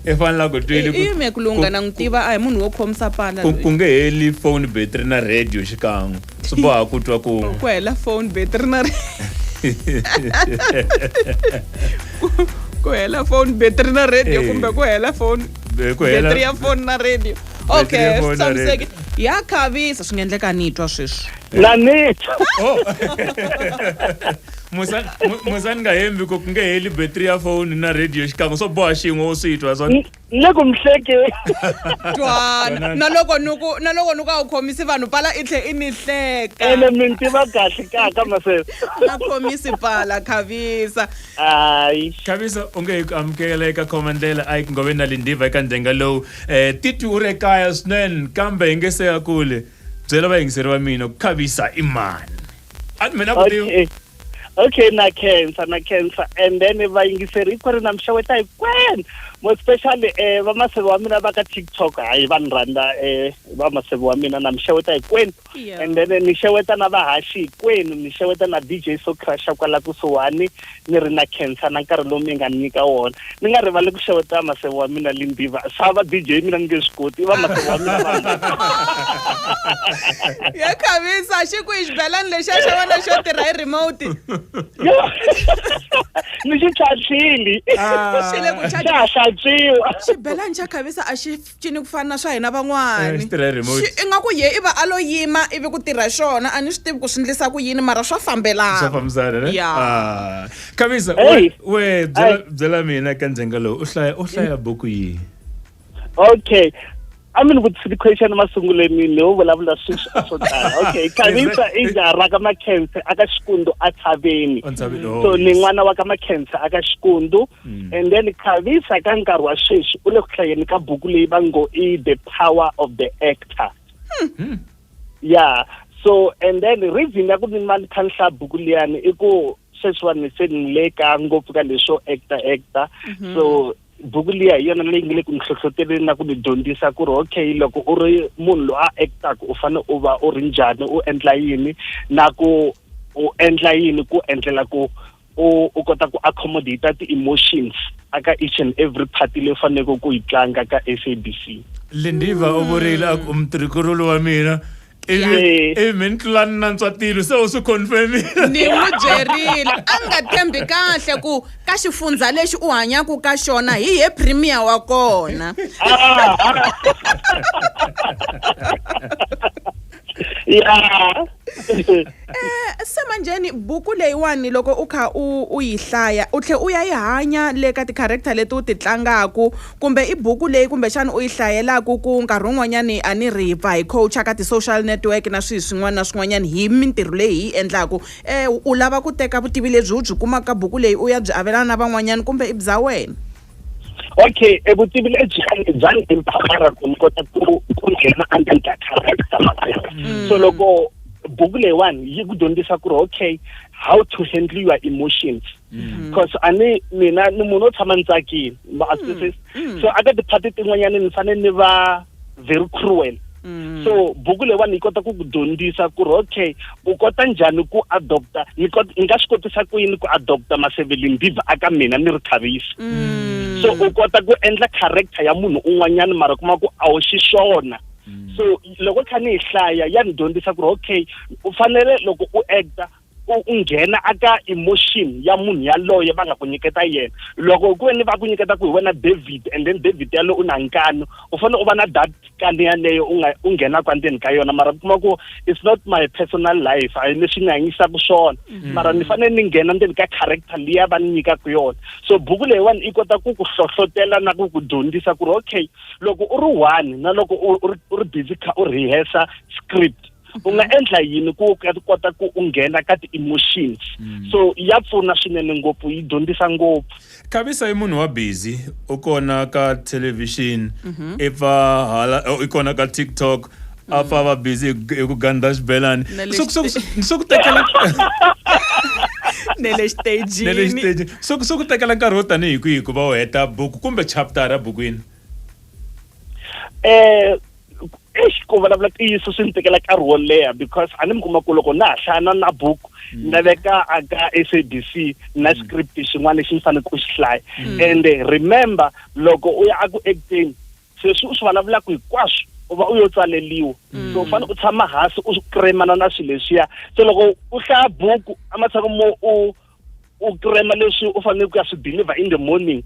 i fanela ku twile ku- iyime ku lungha na n'wi tiva a hi munhu wo khomisa pala ku- ku nge heli phone battery na radio xikan'we swi boha ku twa kun'we ku hela phone battery na ku hela phone battery na radio Eh. kumbe ku hela phone Eh, ku hela- battery ya phone na radio Battery ya okay phone na tshamiseki ya khavisa swi nga endleka ni twa sweswi na nitho Oh. musani mu- musani nga hembi ko ku nge heli battery ya foni na radio xikan'we swo boha xin'we wo swi twa swa Ni- ni le ku mi hlekeni twana na loko ni ku na loko ni ku a wu khomisi vanhu pala i tlhe i ni hleka ene mi ni tiva kahle kaka masesi na khomisi pala khavisa hayi khavisa u nge hi ku amukela eka khoma ndlela a yi ku ngove na lindiva eka ndzenga lowu um titwi u ri ekaya swinene kambe hi nge se ya kule byela vayingiseri va mina ku khavisa i mani a mina ku ti okay okay na khensa na khensa and then vayingiseri hikwenu na mi xeweta hikwenu mo especially eh vamaseve wa mina va ka tiktok hayi va ni rhandza eh vamaseve wa mina na mi xeweta hikwenu Yeah. and then ni xeweta na vahaxi hikwenu ni xeweta na dj socrusha kwala kusuhani ni ri na khensa na nkarhi lowu mi nga ni nyika wona. Ni nga rivali ku xeweta maseve wa mina Limbiva. Swa va DJ mina ni nge swi koti, i va maseve wa mina vanghana. Ya khavisa, xi ku i xibelani lexiya xa wena xo tirha hi remote. Yo! Ni xi tlhantlhile. Xi le ku Xa ha hlantswiwa. Xibelani xa khavisa a xi cini ku fana na swa hina van'wani Eh, xi tirha hi remote. Xi- ingaku ye i va a lo yima ivi ku tirha xona a ni swi tivi ku swi ndlisa ku yini mara swa swa fambelana fambisana ne Ya. Ah. khavisa Hey. we we byela Hey. byela mina ka ndzenga lowu u hlaya u hlaya buku yihi okay a mi ni vutisi ti-question masunguleni ni wo vulavula sweswi a swo tala okay khavisa i njara ka makhense aka xikundu a tshaveni entshaveni so ni n'wana wa ka makhense aka xikundu Mm. And then Khavisa ka nkarhi wa sweswi u le ku hlayeni ka buku leyi va ngo i The Power of the Actor. Hmm. hmm. Yeah. So and then reason ya ku ni mali khanhla buku liyani i ku sweswiwani se ni le ka ngopfu ka leswo actor actor. Mm-hmm. So buku liya hi yona leyi nge le ku ni hlohloteleni na ku ni dyondzisa ku ri okay loko u ri munhu loyi a actaka u fanele u va u ri njhani u endla yini na ku u endla yini ku endlela ku u u kota ku accommodate ti-emotions aka each and every party leyi faneleke ku yi tlanga ka SABC Lindiva u vurile a ku mutirhikululu wa mina ivi Yeah. ivi mi ni tlula ni nantswa tilo se u swi confirmile ni n'wi byerile a nga tshembi kahle ku ka xifundza lexi u hanyaka ka xona hi ye premier wa kona Ah, ah. ya Eh, se manjheni buku leyiwani loko u kha u u yi hlaya u tlhe u ya yi hanya le ka ti-character leti u ti tlangaku kumbe i buku leyi kumbexana u yi hlayelaku ku nkarhi wun'wanyani a ni ri pfa hi coacha ka ti-social network na swihi swin'wana na swin'wanyani hi mintirho leyi hi yi endlaku um u lava ku teka vutivi lebyi u byi kumaka ka buku leyi u ya byi avelana na van'wanyani kumbe i bya wena okay e vutivi lebyi bya ni empowera ku ni kota ku ku nghena under ka character so loko buku leyiwani yi ku dyondzisa ku ri okay how to handle your emotions mm-hmm. because a ni mina ni munhu o tshama ni tsakile ma-arthritis mm-hmm. mm-hmm. so aka ti-party tin'wanyani ni fanele ni va very cruel Mm. so buku leyiwani yi kota ku ku dyondzisa ku ri okay u kota njhani ku adopta ni kot- ni nga swi kotisa ku yini ku adopta masevelimbiva aka mina ni ri khavisi Mm. so u kota ku endla character ya munhu un'wanyana mara kuma ku a wu xiswona so loko kha ni yi hlaya ya ni dyondzisa ku ri okay u fanele loko u acta u u nghena aka emotion ya munhu yaloye va nga ku nyiketa yena loko ku ve ni va ku nyiketa ku hi wena David and then David yalo u na nkani u fanele u va na that kani yaleyo u nga u nghenaka endzeni ka yona mara kuma ku it's not my personal life a leswi ni hanyisaka swona mm. mara ni fanele ni nghena ndzeni ka character liya va ni nyikaka yona so buku leyiwani i kota ku ku hlohlotela na ku ku dyondzisa ku ri okay loko u ri one na loko u ri busy kha u rehearsa script u nga endla yini ku kota ku u nghena ka ti-emotion mm. so ya pfuna swinene ngopfu yi dyondzisa ngopfu khavisa i munhu wa busy u kona ka television mhm. i pfa hala i kona ka tiktok a pfa va busy hi ku gandha xibelani swo ku tekela ne le xitejini so ku tekela nkarhi wo tanihi kwihi ku va u heta buku kumbe chaptara bukwini eh eish ku vulavula ntiyiso swi ni tekela nkarhi wo leha because a ni mi kuma ku loko na ha hlaya na na buku mm. na veka aka s a b c na mm. script xin'wana lexi ni fanele ku xi hlaya mm. and remember loko u ya aku acting sweswi u swi vulavulaka hinkwaswo u va u yo tsaleliwa mm. so u fanele u tshama hansi u kremana na swilo leswiya so loko u hlaya buku ematshan'wini mo u u krema leswi u fanele ku ya swi deliver in the morning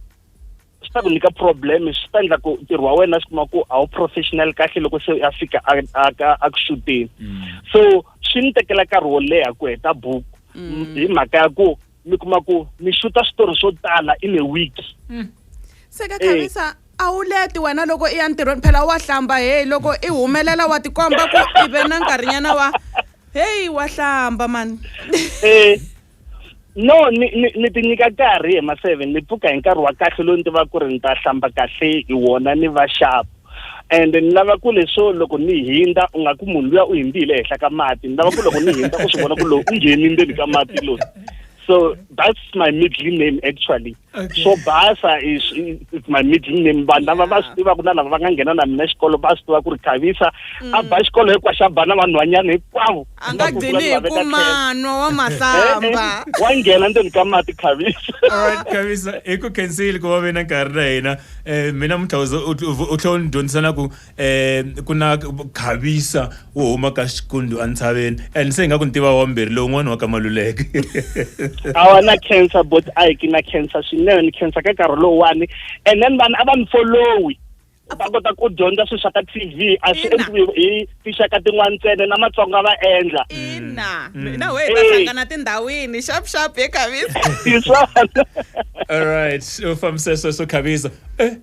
swi ta ku nyika problem swi ta endla ku ntirho wa wena swi kuma ku a wu professional kahle loko se a fika a ku xuteni mm. so swi ni tekela nkarhi wo leha ku heta buku mm. hi mhaka ya ku mi kuma ku mi xuta switori swo tala in a week mm. se ka khavisa eh. a wu leti wena loko i ya ntirhweni phela wa hlamba heyi loko i humelela wa tikomba ku i ve na nkarhinyana wa heyi wa hlamba mani eh. No, ni, ni, ni ti nyika nkarhi hi ma seven ni pfuka hi nkarhi wa kahle lowu ni tivaka ku ri ni ta hlamba kahle hi wona ni va sharp and ni lava ku leswo loko ni hindza u nga ku munhu luya u hindzile ehenhla ka mati ni lava ku loko ni hindza u swi vona ku lowu u ngheni ndzeni ka mati lowu so that's my middle name actually Okay. swo basa is is- is my middle name vanhu lava va swi tivaka na lava va nga nghena na mina xikolo va swi tiva ku ri khavisa a ba xikolo hinkwaxo a ba na vanhwanyana hinkwavo a nga gcini hi ku manwa wa mahlamba wa nghena ndzeni ka mati khavisa Alright, Khavisa, hi ku khensile ku va ve na nkarhi na hina um mina mutlhawuzo u tlhe u ni dyondzisa na ku um ku na khavisa wo huma ka xikundu entshaveni and se hi nga ku ni tiva wambirhi lowun'wana wa ka maluleke a wa na cancer bot a hi ki na cancer swinene ni cancer ka nkarhi lowuwani and then vanhu a va ni folowi va kota ku dyondza swilo swa ka t v a swi endliwi hi tinxaka tin'wana ntsena na matsonga va endla ina mm. na wehe va hlangana tindhawini xap xap hi khavisa hi swona all right u fambise sweswo khavisa eh